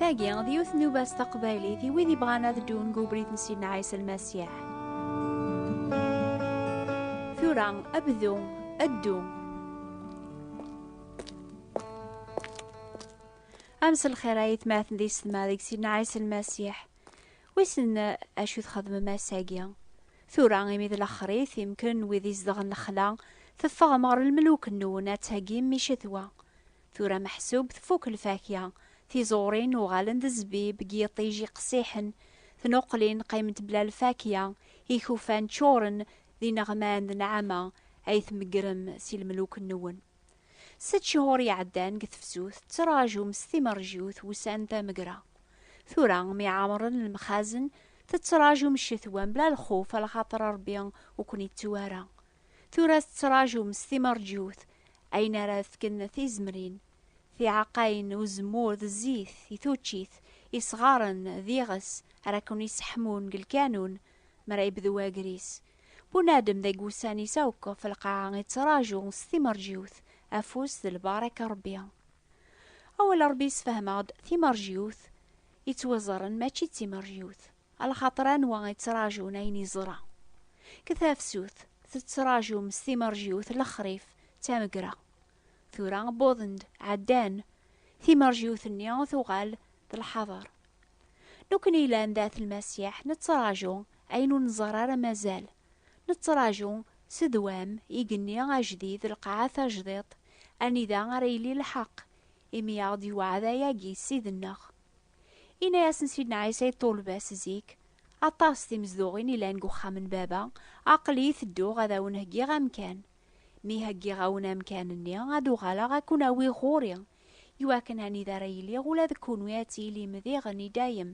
Tagi, d yiwet n ubas taqbaylit i wid ibɣan ad ddun deg ubrid n Sidna Ɛisa Lmasiḥ. Tura, abdu, addu. Am s lxir ay tmaten di setma deg Sidna Ɛisa Lmasiḥ. Wissen acu txedmem ass-agi? Tura imi d laxrit, imken wid izedɣen lexla, teffeɣem ɣer lmeluk-nwen ad tagim i cetwa. Tura meḥsub tfuk lfakya, tiẓurin uɣalen d zzbib deg yiṭij iqessiḥen, tnuqlin qqiment bla lfakya, ikufan ččuren d ineɣman d nneɛma ay tmeggrem si lmeluk-nwen. Sett cehur iɛeddan deg tefsut ttraǧum s timerjut wussan tamegra. Tura mi ɛemren lemxazen tettraǧum ccetwa mebla lxuf alaxaṭer Rebbi ur ken-ittu ara. Tura tettraǧum s timerjut ayen ara d-fken tizemrin, tiɛeqqayin, uzemmur d zzit i tuččit, isɣaren d iɣes ara ken-iseḥmun deg lkanun mi ara yebdu wagris. Bunadem deg wussan-is akk ɣef lqaɛa ittraǧu s timerjiwt, afus d lbaraka n Rebbi. Awal n Rebbi yessefhem-aɣ-d timerjiwt ittwiẓren mačči d timerjiwt, lxaṭer anwa ittraǧun ayen iẓra. Deg tafsut, tettraǧum s timerjiwt lexrif d tamegra. Tura wwḍen-d, ɛeddan. Timerjiwt-nni tuɣal d lḥaḍer. Nekkni yellan d At Lmasiḥ nettraǧu ayen ur nẓerr ara mazal. Nettraǧu s ddwam igenni ajdid, lqaɛa tajdiṭ, anida ara yili lḥeqq, imi aɣ-d-yewɛed ayagi Ssid-nneɣ. Yenna-yasen Sidna Ɛisa i ṭṭulba-s zik, Aṭas timezduɣin yellan deg uxxam n Baba, aql-i tedduɣ ad awen-heggiɣ amkan. Mi heggiɣ-awen amkan-nni, ad uɣaleɣ ad ken-awiɣ ɣur-i, i wakken anida ara iliɣ ula d kunwi ad tilim diɣen i dayem.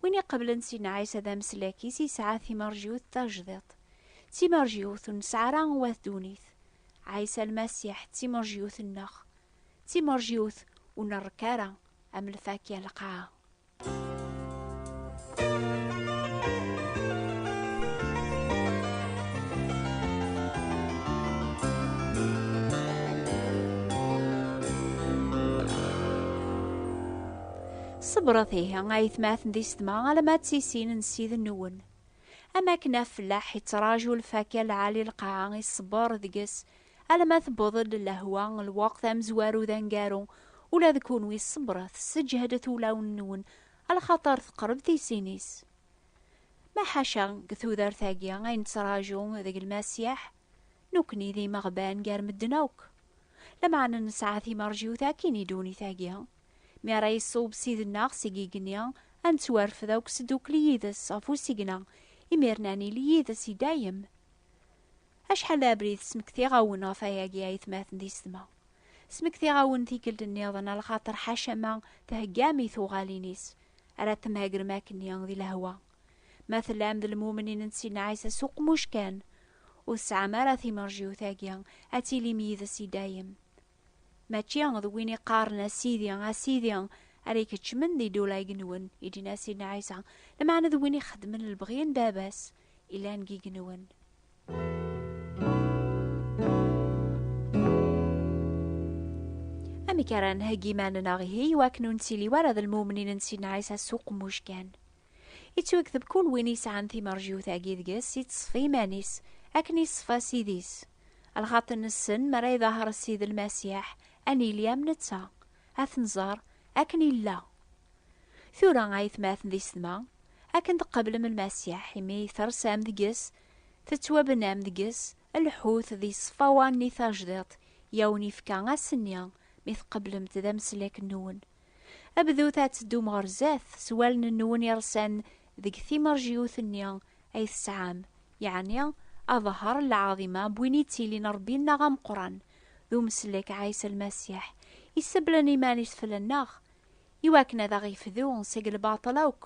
Win iqeblen Sidna Ɛisa d ameslak-is yesɛa timerjiwt tajdiṭ. D timerjiwt ur nesɛi ara wat ddunit. Ɛisa Lmasiḥ d timerjiwt-nneɣ. D timerjiwt ur nrekk ara, am lfakya n lqaɛa. Ṣebṛet ihi, a aytmaten di setma, alamma d tisin n Ssid-nwen. Am akken afellaḥ iţṛaǧu lfakya lɛali lqaɛa, iṣebbeṛ deg-s, Alama tewweḍ-d lehwa, lweqt amezwaru d aneggaru. Ula d kunwi ṣebret, sseǧhdet ulawen-nwen, axaṭer teqreb tisin-is. Ma ḥaca, deg tudert-agi, ay nettraǧu deg Lmasiḥ, nekkni d imeɣban gar medden akk. Lameɛna nesɛa timerjiwt akkin i ddunit-agi. Mi ara iṣub Ssid-nneɣ seg igenni, ad nettwarfed akk sdukli yid-s ɣef usigna, imir-n ad nili yid-s i dayem. Acḥal d abrid smektiɣ-awen ɣef ayagi ayetmaten d isetma. Smektiɣ-awen tikkelt nniḍen a lxaṭer ḥaca ma theggam i tuɣalin-is ara temhagrem akkenni di lehwa. Ma tellam d lmumnin n Sidna Ɛisa s uqmuc kan, ur tesɛam ara timerjiwt-agi ad tilim yid-s i dayem. Mačči d win iqqaren a Sidi, a Sidi, ara ikeččmen di ddula-ig-nwen, i d-yenna Sidna Ɛisa, lmeɛna d win ixeddmen lebɣi n Baba-s yellan deg yigenwen. Amek ara nheggi iman-nneɣ ihi iwakken ur nettili wara d lmumnin n Sidna Ɛisa s uqemmuc kan? Ittwekteb kul win yesɛan timerjiwt-agi deg-s iţṣef iman-is akken iṣfa Ssid-is. Lxaṭ nessen mi ara iḍaher Ssid Lmasiḥ a nili am neţţa, a t-nẓer akken illa. Tura a ayetmaten d isedma, akken tqeblem Lmasiḥ imi tersam deg-s, teţwabnam deg-s, lḥut d iṣeffawa-nni tajdiṭ i awen-ifka ass-nni mi tqeblemt d ameslak-nwen Abdut ad teddum ɣer zdat s wallen-nwen iresan deg timerjiwt-nni ay tesɛam, yeɛni aḍher n lɛaḍima n win yettilin Rebbi-nneɣ ameqran d umeslek Ɛisa Lmasiḥ, yesseblen iman-is fell-nneɣ i wakken ad aɣ-yefdu seg lbaṭel akk,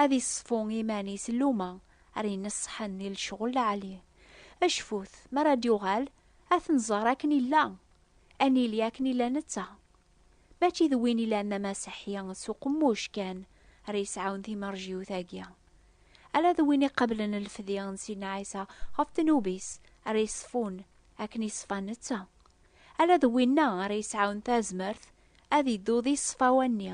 ad iṣeffu iman-is n luma ara ineṣṣḥen di lecɣel lɛali. Cfut, mi ara d-yuɣal, ad t-nẓer akken yella, ad nili akken yella netta. Mačči d win ilan Maam Aseḥḥi s uqemmuc kan ara yesɛun timerjiwt-agi, ala d win iqablen lefdi n Sidna Ɛisa ɣef ddnub-is ara yeṣfun akken i ṣfa netta, ala d winna ara yesɛun tazmert ad iddu di ṣṣfa-wanni.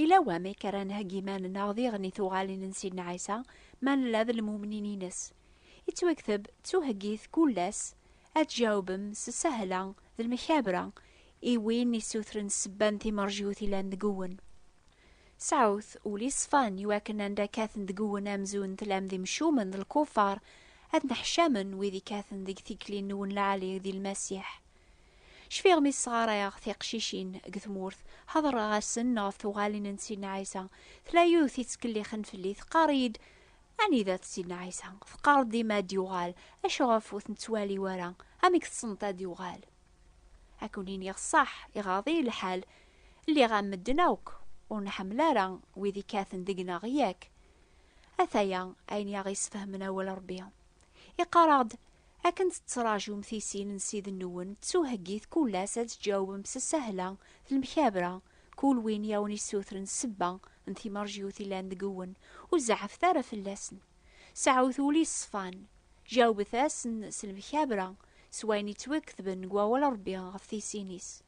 Yella wamek ara nheggi iman-nneɣ diɣen i tuɣalin n Sidna Ɛisa ma nella d lmumnin-ines? Yettwakteb, Ttuheggit kul ass ad tjawbem s ssahla d lmekabra i win issutren ssebba n timerjut yellan deg-wen. Sɛut ul iṣfan i wakken anda kkaten deg-wen amzun tellam d imcumen d lkufar, ad nneḥcamen wid ikkaten deg tikli-nwen lɛali di Lmasiḥ. Cfiɣ mi sɣarayeɣ tiqcicin deg tmurt, ḥeḍreɣ-asen ɣef tuɣalin n Sidna Ɛisa. Tella yiwet yettkellixen fell-i, teqqar-iyi-d, Anida-t Sidna Ɛisa? Teqqareḍ dima ad d-yuɣal, acu ɣef ur t-nettwali ara? Amek tessneḍ ad d-yuɣal? Ad ken-iniɣ ṣṣeḥ, iɣaḍ-iyi lḥal, lliɣ am medden akk, ur nḥemmel ara wid ikkaten deg-neɣ, yak? Ataya ayen i aɣ-yesfehmen awal Ṛebbi. Iqarr-aɣ-d, Akken tettraǧum tisin n Ssid-nwen d tuheggit kul ass ad tǧawbem s sahla d lemkabra, kul win i awen-issutren ssebba n timerjyut illan deg-wen, ur zeɛɛfet ara fell-asen. Seɛɛut ul yeṣṣfan. Jawbet-asen s lemkabra, s wayen yettwaketben deg Wawal n Rebbi ɣef tisin-is.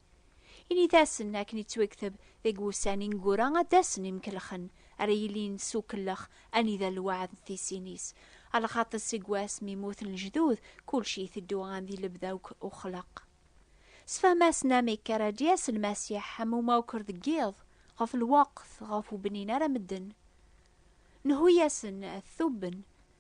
Init-asen akken yettwekteb deg wussan ineggura ad d-asen imkelxen, ara yilin s ukellex anida lweɛd d tisin-is. A lxaṭi seg wass mi muten lejdud, kulci iteddu am di lebda akk uxleq. Sefhem-asen amek ara d-yas Lmasiḥ am umawker deg yiḍ, ɣef lweqt ɣef webnin ara medden. Nhu-yasen ad t-tubben,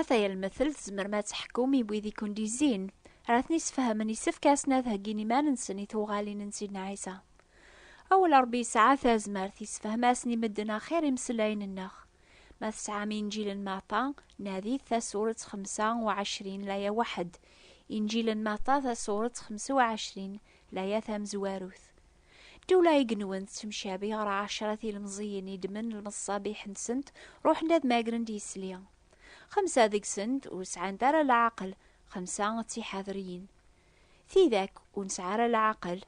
Ata yalmetel tzemrem ad teḥkum i wid i kent-izzin, ara ten-isfehmen yessefk asen ad heggin iman-nsen i tuɣalin n Sidna Ɛisa. Awal Ṛebbi yesɛa tazmert yessefhem-asen i medden axir imeslayen-nneɣ. Ma tesɛam Inǧil n Matta, nadit tasuret xemsa u ɛecrin laya waḥed, Inǧil n Matta tasuret xemsa u ɛecrin laya tamezwarut. Ddula igenwen tettemcabi ɣer ɛecra tilemẓiyin i ddmen lmeṣṣabiḥ-nsent, ruḥen ad magren d yisli. Xemsa deg-sent ur sɛant ara leɛqel, xemsa d tiḥadriyin. Tidak ur nesɛi ara leɛqel,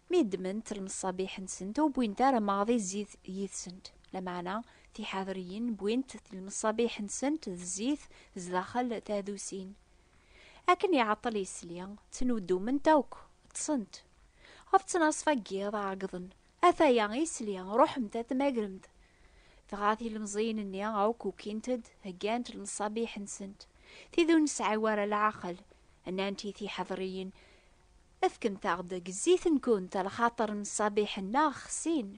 mi ddment lmeṣṣabiḥ-nsent ur wwint ara maḍi zzit yid-sent. Lameɛna tiḥadriyin wwint lmeṣṣabiḥ-nsent d zzit zdaxel tadusin. Akken iɛeṭṭel yesli, ttnuddument akk, ṭṭsent. Ɣef ttnaṣfa n yiḍ, ɛeggḍen. Ataya isli, ruḥemt ad t-tmagremt! Dɣa tilemẓiyin-nni akk ukint-d, heggant lmeṣabiḥ-nsent, tid ur nesɛi wara leɛqel, nnant i tiḥeḍriyin, Efkemt-aɣ-d deg zzit-nkent, lxaṭer lmeṣabiḥ-nneɣ xsin.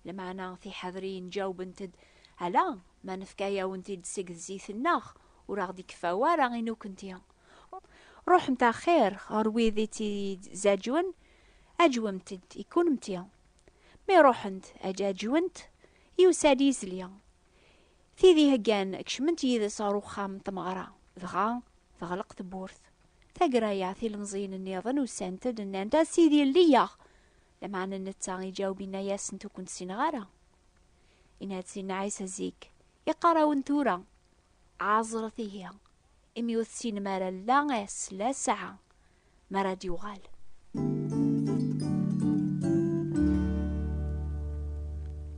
Lmeɛna tiḥadriyin ǧawbent-d, Ala ma nefka-yawen-t-id seg zzit-nneɣ, ur aɣ-d-ikeffa wara i nukenti. Ruḥemt axir ɣer wid i tt-izaǧwen, aǧwemt-d i kunemti. Mi ruḥent ad ǧaǧwent, yusa-d yizli. Tid iheggan kecment yid-s ɣer uxxam n tmeɣra, dɣa teɣleq tewwurt. Taggara-a, tilemẓiyin-nniḍen usant-d, nnant, A Sidi, lli-yaɣ! Lameɛna netta iǧaweb inna-yasent ur kent-ssineɣ ara. Inna-d Sidna Ɛisa zik, iqqar-awen tura, ɛaẓret ihi, imi ur tessinem ara la ass la ssaɛa mi ara d-yuɣal.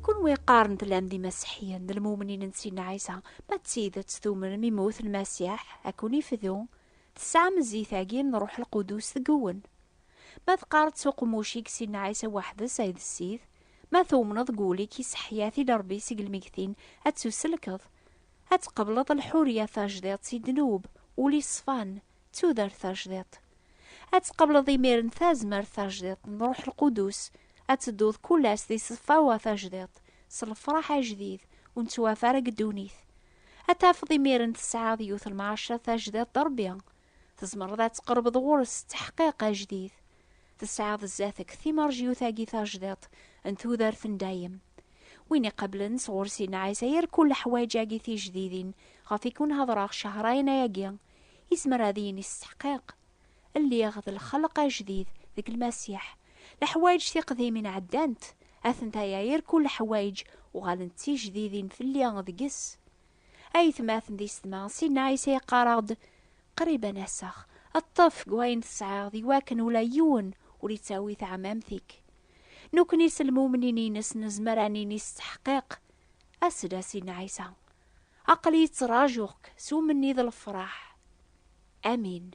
Kunwi iqqaren tellam d imaseḥiyen d lmumnin n Sidna Ɛisa, ma d tidet tumnem imut Lmasiḥ ad ken-ifdu, tesɛam zzit-agi n Ṛuḥ Lqudus deg-wen. Ma teqqareḍ s uqemmuc-ik Sidna Ɛisa weḥd-s ay d Ssid, ma tumneḍ deg wul-ik i Seḥḥyat i Lerbi seg lmegtin, ad tusellkeḍ, ad tqebleḍ lḥurya tajdiṭ si ddnub, ul-i ṣfan, d tudert tajdiṭ. Ad tqebleḍ imiren tazmert tajdiṭ n Ṛuḥ Lqudus, ad tedduḍ kull ass di ṣṣfawa tajdiṭ, s lefṛaḥ ajdid, ur nettwaf ara deg ddunit. Ad tafeḍ imiren tesɛiḍ yiwet lmeɛaca tajdiṭ d Ṛebbi, Tzemreḍ ad tqerbeḍ ɣur-s s teḥqiq ajdid. Tesɛiḍ zdat-k timerjyut-agi tajdiṭ n tudert n dayem. Win iqablen sɣur Sidna Ɛisa yerkul leḥwaǧ-agi tijdidin ɣef i kun hedreɣ Cahrain-agi, yezmer ad yini s teḥqiq, Lliɣ d lxelq ajdid deg Lmasiḥ. Leḥwaǧ tiqdimin ɛeddant, atenta ya yerkul leḥwaǧ uɣalent d tijdidin fell-i deg-s. aytmaten d isetma Sidna Ɛisa yeqqar-aɣ-d qrib ad n-aseɣ ṭṭef deg wayen tesɛiḍ i wakken ula yiwen ur ittawi taɛmamt-ik Nekkni s lmumnin-ines nezmer ad nini s ttḥeqqiq As-d a Sidna Ɛisa Aql-iyi ttrajuɣ-k s umenni d lefraḥ Amin.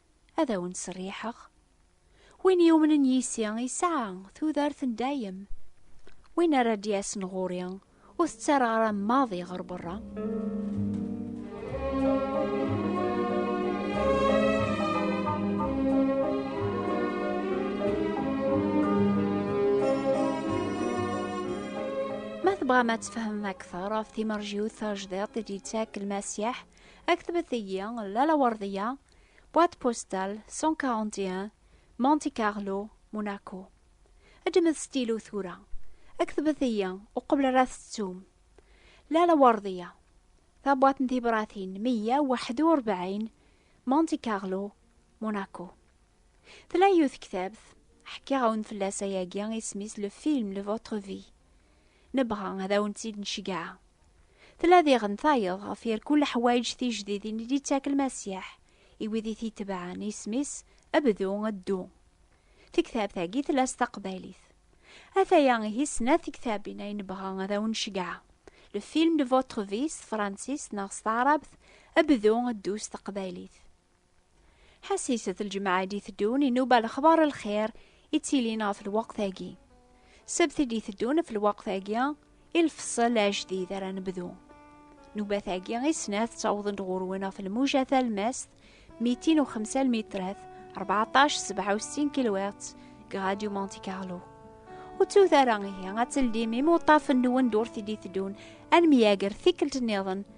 ad awen-ttserriḥeɣ. Win yumnen yis-i yesɛa tudert n dayem. Win ara d-yasen ɣur-i, ur t-ttarraɣ ara maḍi ɣer berra. Ma tebɣam ad tfehmem akteṛ ɣef timerjiwt tajdiṭ i d-yettak Lmasiḥ, aktbet-iyi Lalla Werdiya Boîte postale 141 Monte Carlo, Monaco. Ǧemet stilu tura. Ktbet-iyi uqbel ara tettum. Lala Werdiya. Tabwaṭ n tibratin 141 Monte Carlo, Monaco. Tella yiwet tektabt, ḥkiɣ-awen fell-as ayagi, isem-is Le Film de Votre Vie. Nebɣa ad awen-tt-id-nceggeɛ. Tella diɣen tayeḍ ɣef yir kul leḥwayeǧ tijdidin i d-yettak Lmasiḥ i wid i t-itebɛen, isem-is Bdu, Ddu. Tektabt-agi tella s taqbaylit. Ataya ihi snat tektabin ay nebɣa ad awen-nceggeɛ, Le film de votre vie s tefransist neɣ s taɛrabt, Bdu, Ddu s teqbaylit. Ḥassiset lǧemɛa i d-iteddun inuba lexbar lxir i ttilin ɣef lweqt-agi. Sebt i d-iteddun ɣef lweqt-agi i lfeṣṣel ajdid ara nebdu. Nubat-agi i snat ttawḍen-d ɣur-wen ɣef lmuja talmast, mitin u xemsa lmitrat, 14 sebɛa u settin kilwert, deg Radio Monte Carlo. Ur ttut ara ihi ad teldim imuṭṭafen-nwen d urti d-iteddun ad nemyager tikkelt-nniḍen